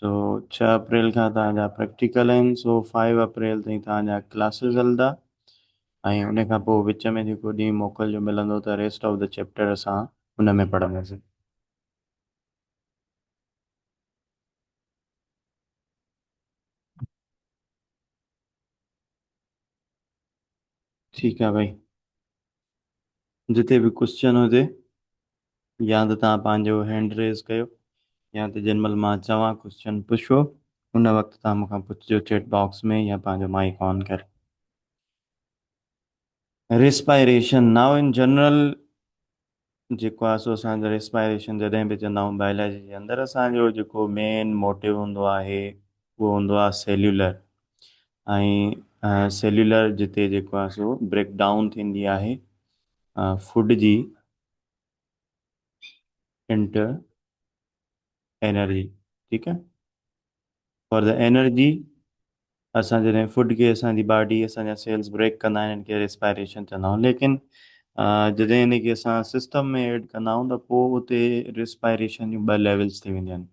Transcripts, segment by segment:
سو ڇهه اپريل کان توهان جا پريڪٽيڪل آهن سو فائيو اپريل تائين توهان جا ڪلاسز هلندا ۽ ان کان پوء وچ ۾ جيڪو ڏينهن موڪل جو ملندو ته ريسٽ آف دي چيپٽر اسان ان ۾ پڙهنداسين. ٺيڪ آ ڀائي جتي به ڪوسچن هجي يا ته توهان پنهنجو هينڊ ريز ڪيو يا ته جن مهل مان چوان ڪوسچن پڇو ان وقت توهان مون کان پڇجو چيٽ باڪس ۾ يا پنهنجو مائيڪ آن ڪري ريسپائريشن ناء ان جنرل جيڪو آهي سو اسان جو ريسپائريشن جڏهن به چوندا آهيون بائلاجي جي اندر اسان جو جيڪو مين موٽو هوندو آهي اهو هوندو آهي سيلولر ۽ سيلولر جتي جيڪو آهي سو بريڪ ڊائون ٿيندي آهي فوڊ جي انٽر انرجي ٺيڪ آ فار دا انرجي اسان جڏهن فوڊ کي اسان جي باڊي اسان جا سيلز بريڪ ڪندا آهن ان کي ريسپائريشن چوندا آهيون ليڪن جڏهن ان کي اسان سسٽم ۾ ايڊ ڪندا آهيون ته پوء اتي ريسپائريشن جون ٻه ليولز ٿي وينديون آهن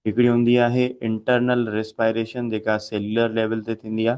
هڪڙي هوندي آهي انٽرنل ريسپائريشن جيڪا سيلولر ليول تي ٿيندي آ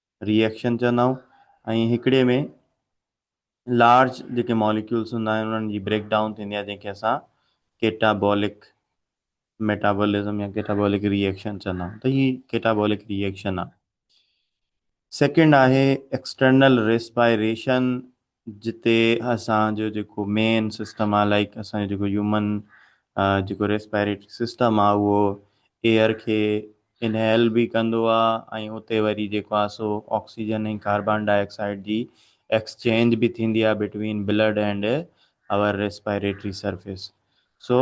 ري ايڪشن چوندا آهيون ۽ هڪڙي ۾ لارج جيڪي ماليڪيولز هوندا آهن انهن جي بريڪ ڊائون ٿيندي آهي جنهن کي اسان ڪيٽابولڪ ميٽابولزم يا ڪيٽابولڪ ري ايڪشن چوندا آهيون ته هي ڪيٽابولڪ ري ايڪشن آهي سيڪنڊ آهي ايڪسٽرنل ريسپائريشن جتي اسان جو جيڪو مين سسٽم آ لائيڪ اسان جو جيڪو هيومن جيڪو ريسپيريٽري سسٽم آ اهو ايئر کي انهيل به ڪندو آ ۽ اتي وري جيڪو آ سو آڪسيجن ۽ ڪاربان ڊاء آڪسائيڊ جي ايڪسچينج به ٿيندي آ between blood and our respiratory surface سو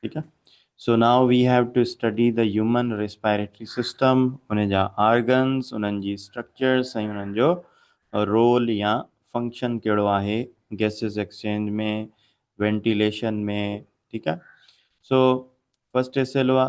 ٺيڪ آ so now we have to study the human respiratory system ان جا آرگنز انهن جي اسٽرڪچرس ۽ انهن جو رول يا فنڪشن ڪهڙو آهي گيسز ايڪسچينج ۾ وينٽيليشن ۾ ٺيڪ آ سو فرسٽ ايس ايل او آ.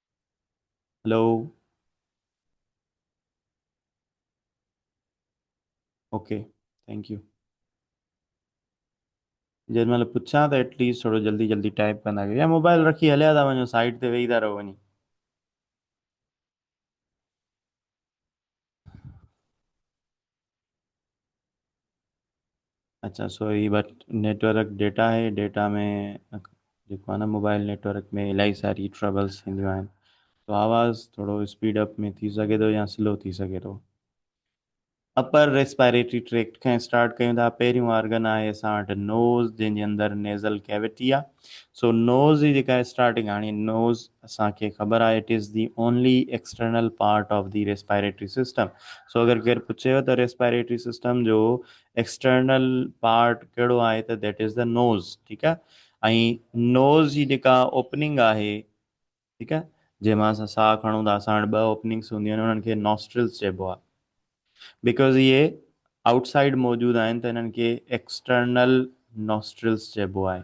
هلو اوڪي ٿينڪ يو جيڏي مهل پڇان ته ايٽ ليسٽ ٿورو جلدي جلدي ٽائپ ڪندا ڪيو يا موبائل رکي هليا ٿا وڃو سائيڊ تي ويهي ٿا رهو وڃي اچا سو هي بٽ نيٽورڪ ڊيٽا آهي ڊيٽا ۾ جيڪو آهي نه موبائل نيٽورڪ ۾ الاهي ساري ٽربلس ٿينديون آهن سو آواز ٿورو اسپيڊ اپ ۾ ٿي سگهي ٿو يا سلو ٿي سگهي ٿو اپر ريسپائريٽري ٽريڪٽ کان اسٽارٽ ڪيون ٿا پهريون آرگن آهي اسان وٽ نوز جنهن جي اندر نيزل ڪيويٽي آهي سو نوز جي جيڪا اسٽارٽنگ هاڻي نوز اسان کي خبر آهي it is the only external part of the respiratory system so اگر ڪير پڇيو ته ريسپائريٽري سسٽم جو ايڪسٽرنل پارٽ ڪهڙو آهي ته ديٽ از دي نوز ٺيڪ آهي ۽ نوز جي جيڪا اوپننگ آهي ٺيڪ آهي جنهن مان اسان ساهه کڻون ٿا اسان وٽ ٻه اوپننگس هونديون آهن انهن کي نوسٽرلس چئبو آهي بيڪاز اهي آئوٽ سائيڊ موجود آهن ته انهن کي ايڪسٽرنل نوسٽرلس چئبو آهي.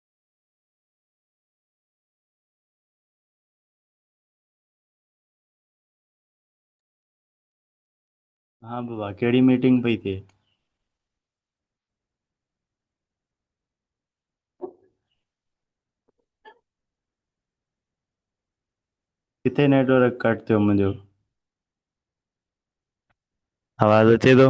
ها بابا ڪهڙي ميٽنگ پئي ٿئي ڪٿي نيٽورڪ ڪٽ ٿيو منهنجو آواز اچي ٿو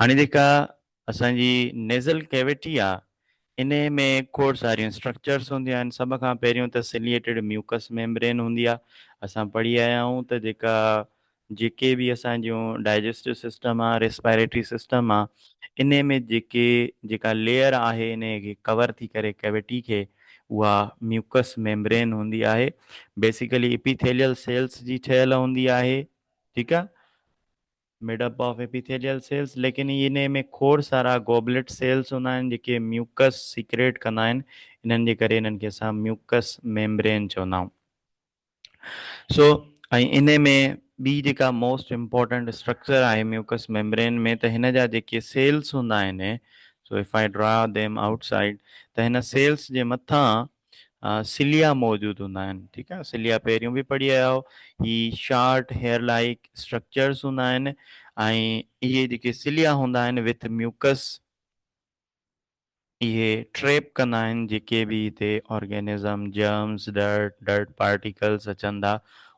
هاڻي جيڪا اسان جي نيزل ڪيوٽي آ انهي ۾ کوڙ ساريون اسٽرڪچرس هونديون آهن سڀ کان پهريون ته سليئيٽيڊ ميوڪس ميمبرين هوندي آ اسان پڙهي آيا آهيون ته جيڪا جيڪي به اسان جون ڊائجسٽو سسٽم آ ريسپائريٽري سسٽم آ انهي ۾ جيڪي جيڪا ليئر آهي انهي کي ڪور ٿي ڪري ڪيوٽي کي اها ميوڪس ميمبرين هوندي آهي بيسيڪلي اپيٿيليل سيلس جي ٺهيل هوندي آهي ٺيڪ آ made up of epithelial cells ليڪن انهي ۾ کوڙ سارا گوبليٽ سيلز هوندا آهن جيڪي ميوڪس سيڪريٽ ڪندا آهن انهن جي ڪري انهن کي اسان ميوڪس ميمبرين چوندا آهيون سو ۽ انهي ۾ ٻي جيڪا موسٽ امپورٽنٽ اسٽرڪچر آهي ميوڪس ميمبرين ۾ ته هن جا جيڪي سيلز هوندا آهن so if I draw them outside ته هن سيلز جي مٿان سليا موجود هوندا آهن ٺيڪ آهي سليا پهريون به پڙهي آيا آهو هي شارٽ هيئر لائڪ اسٽرڪچرس هوندا آهن ۽ اهي جيڪي سليا هوندا آهن وٿ ميوڪس اهي ٽريپ ڪندا آهن جيڪي به هتي organism germs dirt dirt particles اچن ٿا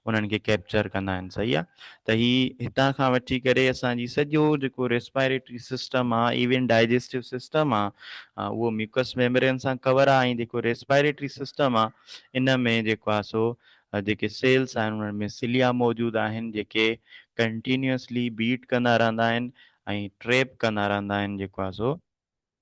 انهن کي ڪيپچر ڪندا آهن صحيح آ ته هي هتان کان وٺي ڪري اسان جي سڄو جيڪو ريسپائريٽري سسٽم آ ايون ڊائجسٽو سسٽم آ اهو ميوڪس ميمبرين سان ڪور آ ۽ جيڪو ريسپائريٽري سسٽم آ ان ۾ جيڪو آ سو جيڪي سيلس آهن انهن ۾ سليا موجود آهن جيڪي ڪنٽينيوسلي بيٽ ڪندا رهندا آهن ۽ ٽريپ ڪندا رهندا آهن جيڪو آ سو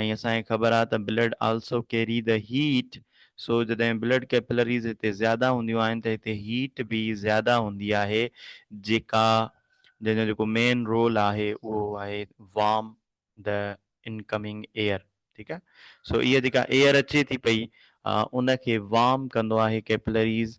۽ اسان کي خبر آهي ته blood also carry the heat so جڏهن بلڊ ڪيپلريز هتي زياده هونديون آهن ته هتي هيٽ به زياده هوندي آهي جيڪا جنهن جو جيڪو مين رول آهي اهو آهي وارم دي انڪمنگ ايئر ٺيڪ آهي سو اها جيڪا ايئر اچي ٿي پئي ان کي وارم ڪندو آهي ڪيپلريز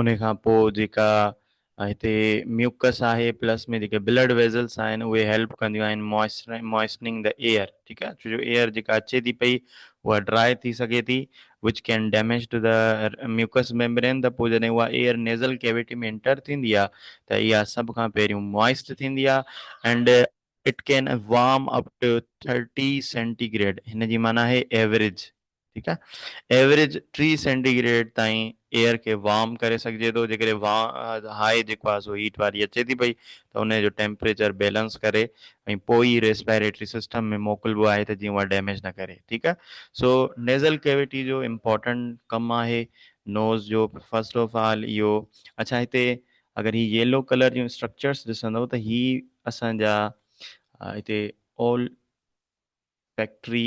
انهي کان پوء جيڪا هتي ميوڪس آهي پلس ۾ جيڪي بلڊ ويزلس آهن اهي هيلپ ڪنديون آهن موئسننگ ڌا ايئر ٺيڪ آهي ڇو جو ايئر جيڪا اچي ٿي پئي اها ڊراء ٿي سگهي ٿي which can damage to the mucus membrane ته پوء جڏهن اها ايئر نيزل ڪيوٽي ۾ انٽر ٿيندي آهي ته اها سڀ کان پهريون موئسٽ ٿيندي آهي and it can warm up to thirty centigrade هن جي معنيٰ آهي ايوريج ٺيڪ آهي ايوريج ٽي سينٽي گريڊ تائين ايئر کي وارم ڪري سگهجي ٿو جيڪڏهن وا هاء جيڪو آهي سو هيٽ واري اچي ٿي پئي ته ان جو ٽيمپريچر بيلنس ڪري ۽ پوء ئي ريسپيريٽري سسٽم ۾ موڪلبو آهي ته جيئن اها ڊيميج نه ڪري ٺيڪ آهي سو نيزل ڪيويٽي جو امپورٽنٽ ڪم آهي نوز جو فرسٽ آف آل اهو اڇا هتي اگر هي ييلو ڪلر جون اسٽرڪچرس ڏسندو ته هي اسان جا هتي اول فيڪٽري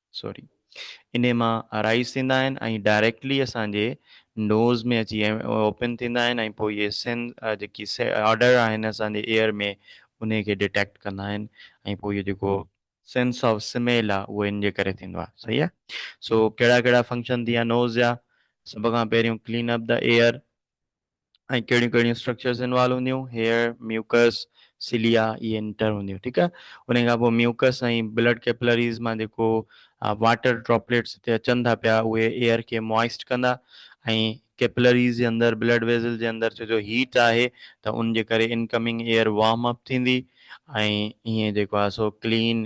سوري انهي مان ارائيز ٿيندا آهن ۽ ڊائريڪٽلي اسان جي نوز ۾ اچي اوپن ٿيندا آهن ۽ پوء اهي سين جيڪي آرڊر آهن اسان جي ايئر ۾ انهي کي ڊيٽيڪٽ ڪندا آهن ۽ پوء اهو جيڪو سينس آف سميل آهي اهو ان جي ڪري ٿيندو آهي صحيح آهي سو ڪهڙا ڪهڙا فنڪشن ٿي ويا نوز جا سڀ کان پهريون ڪلين اپ دي ايئر. ۽ ڪهڙيون ڪهڙيون اسٽرڪچرز انوالو هونديون هيئر ميوڪس سيليا اي انٽر هونديون ٺيڪ آهي ان کان پوء ميوڪس ۽ بلڊ ڪيپلريز مان جيڪو واٽر ڊراپليٽس هتي اچن ٿا پيا اهي ايئر کي موائسٽ ڪندا ۽ ڪيپلريز جي اندر بلڊ ويزل جي اندر ڇو جو هيٽ آهي ته ان جي ڪري انڪمنگ ايئر وارم اپ ٿيندي ۽ هيئن جيڪو آهي سو clean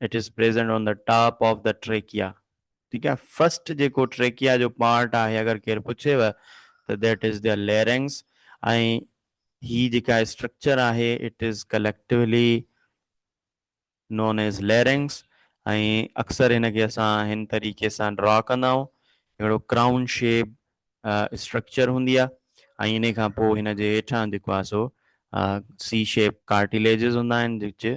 It is present on the top of the trachea. ٺيڪ آهي فرسٽ جيڪو ٽريڪيا جو پارٽ آهي اگر ڪير پڇيو ته ذيٽ از دي ليرنگس ۽ هي جيڪا اسٽرڪچر آهي it is ڪليڪٽولي known as larynx ۽ اڪثر هن کي اسان هن طريقي سان ڊرا ڪندا آهيون ههڙو ڪرائون شيپ اسٽرڪچر هوندي آهي ۽ ان کان پوء هن جي هيٺان جيڪو آهي سو سی شيپ ڪارٽيليجز هوندا آهن جيڪي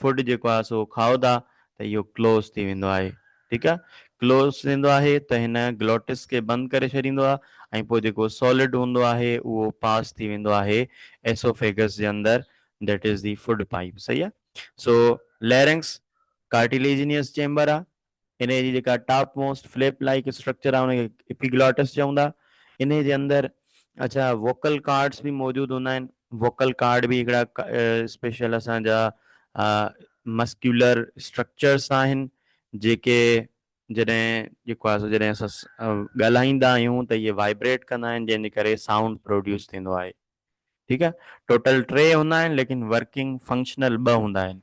فوڊ جيڪو آهي سو کائو ٿا ته اهو ڪلوز ٿي ويندو آهي ٺيڪ آهي ڪلوز ٿيندو آهي ته هن گلوٽس کي بند ڪري ڇڏيندو آهي ۽ پوء جيڪو سولڊ هوندو آهي اهو پاس ٿي ويندو آهي ايسوفيگس جي اندر that is the food pipe صحيح آهي سو ليرنگس ڪارٽيليجنيس چيمبر آهي انهيء جي جيڪا top most flap like structure آهي ان کي ايپيگلوٽس چئون ٿا. انهيء جي اندر اڇا ووڪل ڪارڊس به موجود هوندا آهن. ووڪل ڪارڊ به هڪڙا اسپيشل اسان جا مسڪيولر اسٽرڪچرس آهن جيڪي جڏهن جيڪو آهي سو جڏهن اسان ڳالهائيندا آهيون ته اهي وائبريٽ ڪندا آهن جنهن جي ڪري سائونڊ پروڊيوس ٿيندو آهي. ٺيڪ آهي. ٽوٽل ٽي هوندا آهن ليڪن ورڪنگ فنڪشنل ٻه هوندا آهن.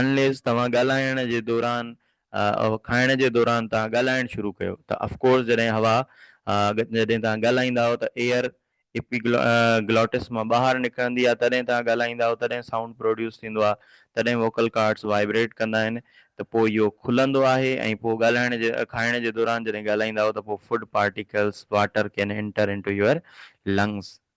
Unless توهان ڳالهائڻ جي دوران کائڻ جي دوران توهان ڳالهائڻ شروع ڪيو ته Of course جڏهن هوا جڏهن توهان ڳالهائيندا آهيو ته Air Epiglottis مان ٻاهر نڪرندي آهي تڏهن توهان ڳالهائيندا آهيو تڏهن Sound Produce ٿيندو آهي تڏهن Vocal Cords Vibrate ڪندا آهن ته پوء اهو کلندو آهي ۽ پوء ڳالهائڻ جي کائڻ جي دوران جڏهن ڳالهائيندا آهيو ته پوء Food Particles Water Can Enter Into Your Lungs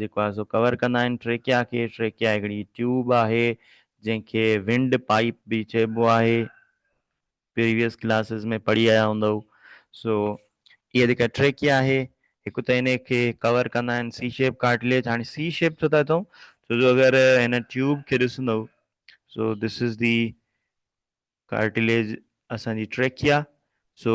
جيڪو آهي سو ڪور ڪندا آهن ٽريڪيا کي، ٽريڪيا هڪڙي ٽيوب آهي جنهن کي ونڊ پائيپ به چئبو آهي پريويس ڪلاسز ۾ پڙهي آيا هوندؤ سو اها جيڪا ٽريڪيا آهي هڪ ته ان کي ڪور ڪندا آهن سي شيپ ڪارٽليج هاڻي سي شيپ ڇو ٿا چئون ڇو جو اگر هن ٽيوب کي ڏسندو سو دس از دي ڪارٽليج اسان جي ٽريڪيا سو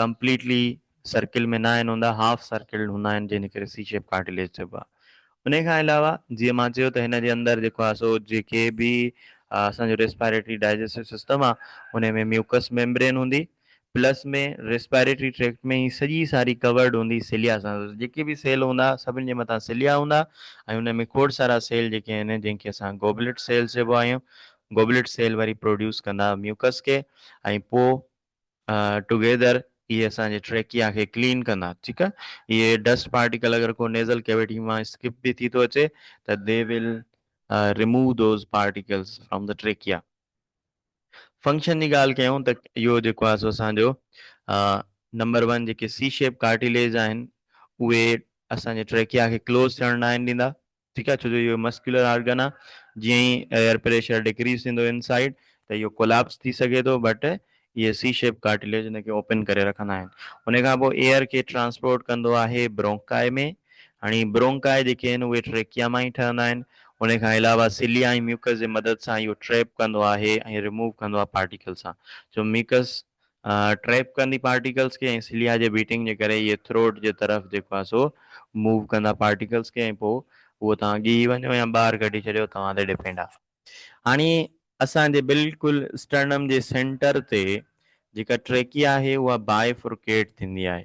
ڪمپليٽلي سرڪل ۾ ناهن هوندا هاف سرڪلڊ هوندا آهن جنهن کي سي شيپ ڪارٽليج چئبو آهي انهي کان علاوه جيئن مان چيو ته هن جي اندر جيڪو آهي سو جيڪي به اسان جو ريسپائريٽري ڊائجسٽو سسٽم آهي انهي ۾ ميوڪس ميمبرين هوندي پلس ۾ ريسپائريٽري ٽريڪٽ ۾ هي سڄي ساري ڪورڊ هوندي سيليا سان جيڪي به سيل هوندا سڀني جي مٿان سيليا هوندا ۽ انهي ۾ کوڙ سارا سيل جيڪي آهن جنهن کي اسان گوبليٽ سيلز چئبو آهيون گوبليٽ سيل وري پروڊيوس ڪندا ميوڪس کي ۽ پوء ٽوگيدر اهي اسان جي ٽريڪيا کي ڪلين ڪندا ٺيڪ آ اهي ڊسٽ پارٽيڪل اگر ڪو نيزل ڪيوٽي مان اسڪپ به ٿي ٿو اچي ته they will remove those particles from the trachea function جي ڳالهه ڪيون ته اهو جيڪو آ سو اسان جو نمبر ون جيڪي سي شيپ ڪارٽيليز آهن اهي اسان جي ٽريڪيا کي ڪلوز ٿيڻ نه آهن ڏيندا ٺيڪ آهي ڇو جو اهو مسڪيولر آرگن آهي جيئن ئي ايئر پريشر ڊڪريز ٿيندو ان سائيڊ ته اهو ڪوليپس ٿي سگهي ٿو بٽ اهي سي شيپ ڪارٽليج ان کي اوپن ڪري رکندا آهن ان کان پوء ايئر کي ٽرانسپورٽ ڪندو آهي برونڪاء ۾ هاڻي برونڪاء جيڪي آهن اهي ٽريڪيا مان ئي ٺهندا آهن ان کان علاوه سليا ۽ ميوڪس جي مدد سان اهو ٽريپ ڪندو آهي ۽ رموو ڪندو آهي پارٽيڪل سان جو ميوڪس ٽريپ ڪندي پارٽيڪلز کي ۽ سليا جي بيٽنگ جي ڪري اهي ٿروٽ جي طرف جيڪو آهي سو موو ڪندا پارٽيڪلز کي ۽ پوء اهو توهان اڳي ئي وڃو يا ٻاهر ڪڍي ڇڏيو توهان تي ڊپينڊ آهي. هاڻي اسان جي بلڪل اسٽرنم جي سينٽر تي جيڪا ٽريڪيا آهي اها بائي فرڪيٽ ٿيندي آهي.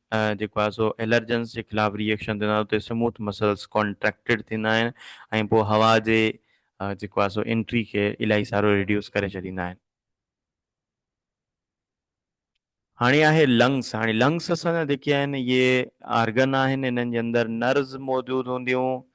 جيڪو آهي سو الرجنس جي خلاف ري ايڪشن ٿيندا آهن اتي سموٿ مسلس ڪانٽريڪٽيڊ ٿيندا آهن ۽ پوء هوا جي جيڪو آهي سو انٽري کي الائي سارو ريڊيوس ڪري ڇڏيندا آهن. هاڻي آهي لنگس هاڻي لنگس اسان جا جيڪي آهن اهي آرگن آهن انهن جي اندر نرز موجود هونديون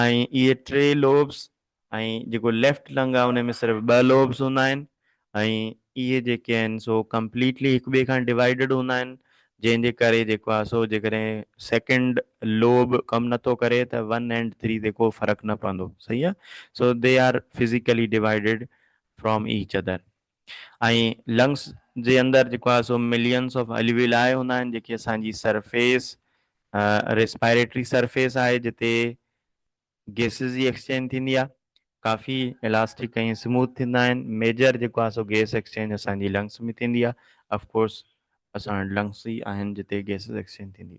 ۽ اهي ٽي لوبس ۽ جيڪو ليفٽ لنگ آهي ان ۾ صرف ٻه لوبس هوندا آهن ۽ اهي جيڪي آهن سو ڪمپليٽلي هڪ ٻئي کان ڊوائيڊڊ هوندا آهن جنهن جي ڪري جيڪو آهي سو جيڪڏهن سيڪنڊ لوب ڪم نٿو ڪري ته ون اينڊ ٿري تي ڪو فرق نه پوندو صحيح آهي so they are physically divided from each other. ۽ Lungs جي اندر جيڪو آهي سو مليئنس آف اليويلائي هوندا آهن جيڪي اسان جي سرفيس ريسپائريٽري سرفيس آهي جتي گيسز جي ايڪسچينج ٿيندي آهي ڪافي الاسٽڪ ۽ سموٿ ٿيندا آهن ميجر جيڪو آهي سو گيس ايڪسچينج اسان جي لنگس ۾ ٿيندي آهي اف ڪورس اسان وٽ لنگس ئي آهن جتي گيسز ايڪسچينج ٿيندي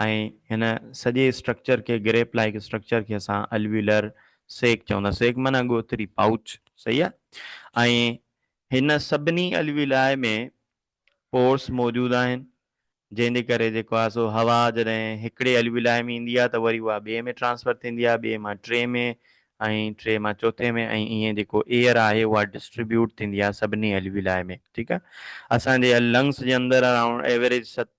۽ هن سڄي اسٽرڪچر کي گريپ لائيڪ اسٽرڪچر کي اسان الويولر سيڪ چوندا سيڪ معنيٰ ڳوٿري پائوچ صحيح آ ۽ هن سڀني الويولائي ۾ پورس موجود آهن جنهن جي ڪري جيڪو آ سو هوا جڏهن هڪڙي الويولائي ۾ ايندي آ ته وري اها ٻئي ۾ ٽرانسفر ٿيندي آ ٻئي مان ٽي ۾ ۽ ٽي مان چوٿين ۾ ۽ ائين جيڪو ايئر آهي اها ڊسٽريبيوٽ ٿيندي آ سڀني الويولائي ۾ ٺيڪ آ اسان جي لنگس جي اندر اراونڊ ايوريج ست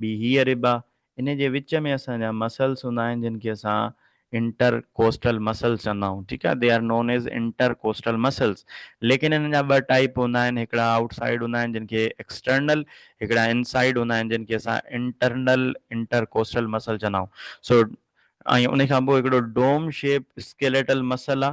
ٻي هيء رب آ، انهي جي وچ ۾ اسان جا مسلس هوندا آهن جن کي اسان انٽر ڪوسٽل مسلس چوندا آهيون ٺيڪ آ they are known as intercostal muscles ليڪن انهن جا ٻه ٽائيپ هوندا آهن هڪڙا آئوٽ سائيڊ هوندا آهن جن کي ايڪسٽرنل هڪڙا ان سائيڊ هوندا آهن جن کي اسان انٽرنل انٽر ڪوسٽل مسل چوندا آهيون سو ۽ انهي کان پوء هڪڙو ڊوم شيپ اسڪيليٽل مسل آ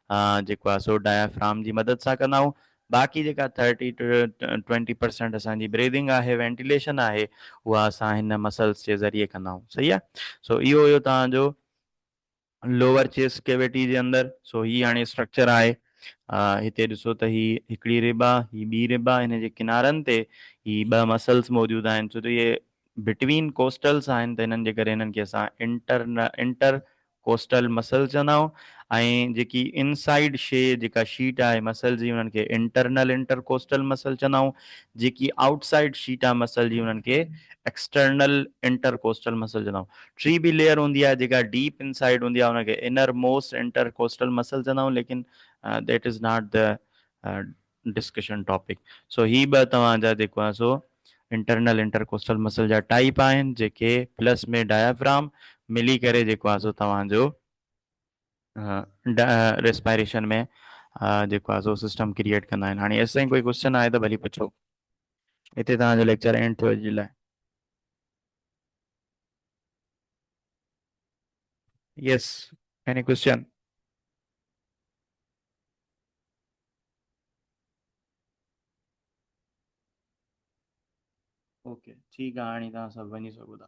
ها جيڪو آهي سو ڊائفرام جي مدد سان ڪندا آهيون باقي جيڪا ٿرٽي ٽو ٽوئنٽي پرسينٽ اسان جي بريدنگ آهي وينٽيليشن آهي اها اسان هن مسلس جي ذريعي ڪندا آهيون صحيح آهي سو اهو هيو توهان جو لوور چيس ڪيويٽي جي اندر سو هي هاڻي اسٽرڪچر آهي هتي ڏسو ته هي هڪڙي رب آهي هي ٻي رب آهي هن جي ڪنارن تي هي ٻه مسلس موجود آهن ڇو ته اهي بٽوين ڪوسٽلس آهن ته هنن جي ڪري هنن کي اسان انٽر انٽر ڪوسٽل مسلز چوندا آهيون ۽ جيڪي ان سائيڊ شي جيڪا شيٽ آهي مسل جي انهن کي انٽرنل انٽر ڪوسٽل مسل چوندا آهيون جيڪي آئوٽ سائيڊ شيٽ آهي مسل جي انهن کي ايڪسٽرنل انٽر ڪوسٽل مسل چوندا آهيون ٽي به ليئر هوندي آهي جيڪا ڊيپ ان سائيڊ هوندي آهي ان کي inner most intercostal muscle چوندا آهيون ليڪن that is not the discussion topic so هي ٻه توهان جا جيڪو آهن سو انٽرنل انٽرڪوسٽل مسل جا ٽائيپ آهن جيڪي پلس ۾ ڊائفرام ملي ڪري جيڪو آهي سو توهان جو ريسپائريشن ۾ جيڪو آهي سو سسٽم ڪريئيٽ ڪندا آهن هاڻي ايسا ڪوئي ڪوشچن آهي ته ڀلي پڇو هتي توهان جو ليڪچر اينڊ ٿيو جي لاء يس ايني ڪوشچن اوڪي ٺيڪ آ هاڻي توهان سڀ وڃي سگهو ٿا.